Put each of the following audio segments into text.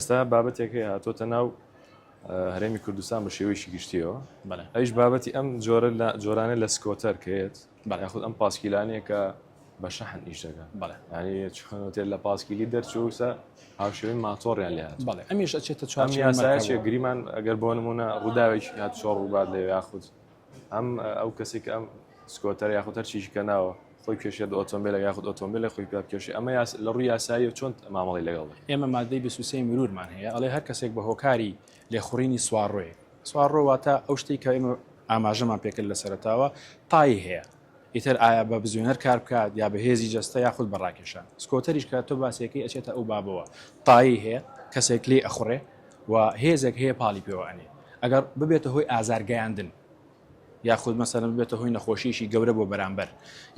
ئێستا بابەتێک هەیە هاتۆتە ناو هەرێمی کوردستان بە شێوەیەکی گشتیەوە ئەیش بابەتی ئەم جۆرە لە جۆرانە لە سکۆتەر کەێت یاخود ئەم پاسکیلانەیە کە بە شەحن ئیش دەگەن چخۆتێت لە پاسکیلی دەرچووسە هاوشێوی ماتۆڕیان لێ بەڵێ ئەمیش ئەچێتە چوار یاسایە گریمان ئەگەر بۆ نمونە ڕووداوێکی هات چۆڕ ڕووبات لە یاخود ئەم ئەو کەسی کە ئەم سکۆتەر یاخود هەر چیشی کە ناوە خۆی کێشێت ئۆتۆمبیلە یاخود ئۆتۆمبیلە خۆی پێ بکێشی ئەمە لە ڕووی یاسایی و چۆن مامەڵی لەگەڵ ئێمە مادەی بسووسی مرورمان هەیە ئەڵێ هەر کەسێک بە هۆکاری لێخوڕینی سوارڕۆیە سوارڕۆواتە ئەو شتێک کە ئێمە ئاماژەمان پێکرد لە سەرتاوە تای هەیە ئیتر ئایا بە بزوێنەر کار بکات یا بە هێزی جەستە یاخود بە ڕاکێشان سکۆتەریش کە تۆ باسیەکەی ئەچێتە ئەو بابەوە تایەی هەیە کەسێک لێی ئەخوڕێ و هێزێک هەیە پاڵی پێوە ئەنێ ئەگەر ببێتە هۆی ئازارگەیاندن یاخود مەسەرم ببێتە هۆی نەخۆشیشی گەورە بۆ بەرامبەر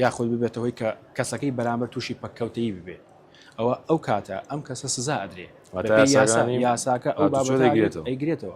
یاخود ببێتە هۆی کە کەسەکەی بەرامبەر تووشی پەککەوتەی ببێ ئەوە ئەو کاتە ئەم کەسە سزا ئەدرێ یاساکە ئەو بابەتەگرێتەوە ئەیگرێتەوە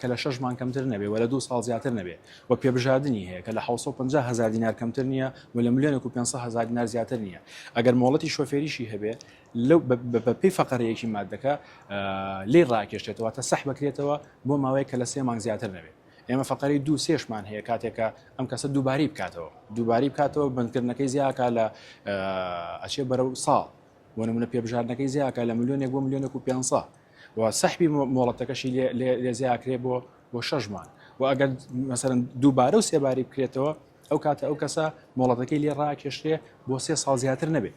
کە لە شەش مانگ کەمتر نەبێت و لە دوو ساڵ زیاتر نەبێت و پێبژاردنی هەیە کە لە حەوت سەد و پەنجا هەزار دینار کەمتر نییە و لە ملیۆنێک و پێنج سەد هەزار دینار زیاتر نییە ئەگەر مۆڵەتی شۆفێریشی هەبێت لەو بەپێی فەقرە یەکی ماددەکە لێی ڕاکێشێتەوە واتە سەح بکرێتەوە بۆ ماوەیە کە لە سێ مانگ زیاتر نەبێت ئێمە فقری دو سێشمان هەیە کاتێکە ئەم کەسە دووباری بکاتەوە دووباری بکاتەوە بندکردنەکەی زیاکە لە ئەچێ بەرە ساڵ بۆ نمونە پێبژاردنەکەی زیاکە لە ملیۆنێک بۆ ملیۆنێک و پێ و سەحبی مۆڵەتەکەشی لێ زیاکرێ بۆ بۆ شەش مانگ و ئەگەر مەسەرن دووبارە و سێباری بکرێتەوە ئەو کاتە ئەو کەسە مۆڵەتەکەی لێ ڕاکێشرێ بۆ سێ ساڵ زیاتر نەبێت.